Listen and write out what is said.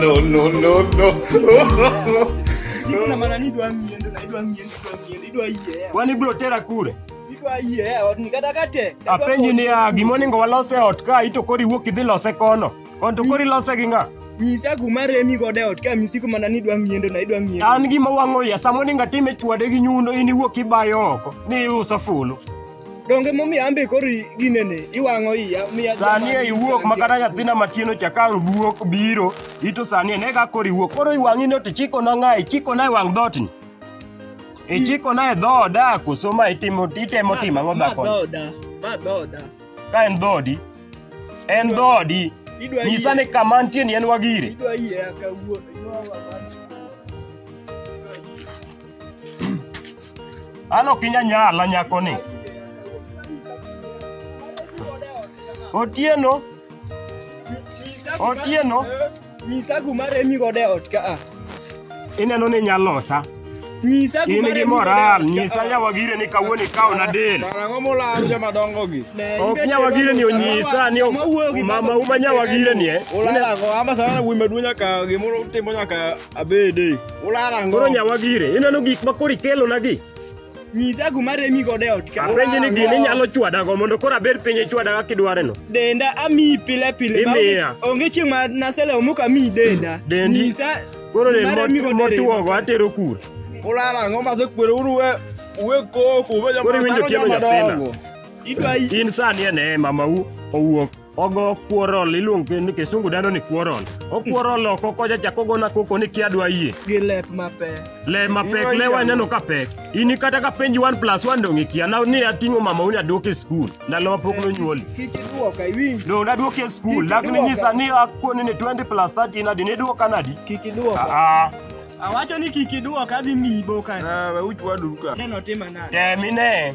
no, no, no, no. Kuna maana ni dwa miende, na dwa miende, dwa miende, dwa yie. Wani bro tera kure. Dwa yie, ot ni kata kate. Apenji ni ya gima onego walos e ot ka ito kori wuok idhi lose kono. Kon to kori lose gi ng'a? Nyisa kuma remi godo e ot ka misiko mana ni dwa miende, na dwa miende. An gima wang'o ya sama onego atime chwade gi nyundo in iwuok ibayo oko ni iuso fulu. Donge momiyo ambe koro ginene iwang'o iya miya sani e iwuok ma kata nyathina matin ocha ka wuok biro ito sani ene ka koro iwuok koro iwang'i ni to chiko na ng'a ichiko na e wang' dhoot ni ichiko na e dhooda koso ma itimo itemo timo ang'o dhako dhoda ma dhoda ka en dhoodi en dhoodi idwa nyisa ni kama nitie ni en wagire idwa yie akawuon An ok inya nyala nyako ni. Otieno. Otieno. Nyisa guma remi godo e ot ka a. Ineno ni inya losa. Nyisa In guma gi remi moral, godo e ot nyisa ka a. nyawagire ni kawuono ikaona del. Karang'o molal joma dongo gi? Ne, Ok ibet nyawagire ni jodongo, onyisa ni sama wuoyo gi mama baba, uma nyawagire ni eh. Ulal ang'o? Ama sana wuoyi maduong' nyaka gimoro utimo nyaka Abede. Ulara ngo. Koro nyawa gire, ineno gik ma koro ikelonagi. Nyisa kuma remi godo e ot ka. Apenji ni gini inyalo chwadago mondo koro abed piny ichwadaga kidwareno. Denda amiyi pile pile. ma Imiya. onge- Onge chieng' ma naselewo mok amiyi denda. Dendi. Nyisa Koro kuma remi den godo e remi. motuogo atero kure. Ulara ngo ma sekwero uru we we koko we Koro iwinjo tielo nyathina. Idwa In sani e neema ma u- owuok ogo quarrel iluonge ni kisungu dendo ni quarrel oquarrel oko kocha chako gona koko ni kia dwa yie gi let mapek le mapek le waneno ka pek ini kata ka penji 1 plus 1 dong' ikia na ni ating'o mama uni aduoke skul ndalo mapok nonyuoli kik iduoka iwinji dong' naduoki e skul Kik lakini iduoka. nyisa ni akoni ni 20 plus 30 nadi niduoka nadi kik iduoka aa awacho ni kik iduoka adhi miyi boka Ah, we uch wadu ka. neno tima nade temine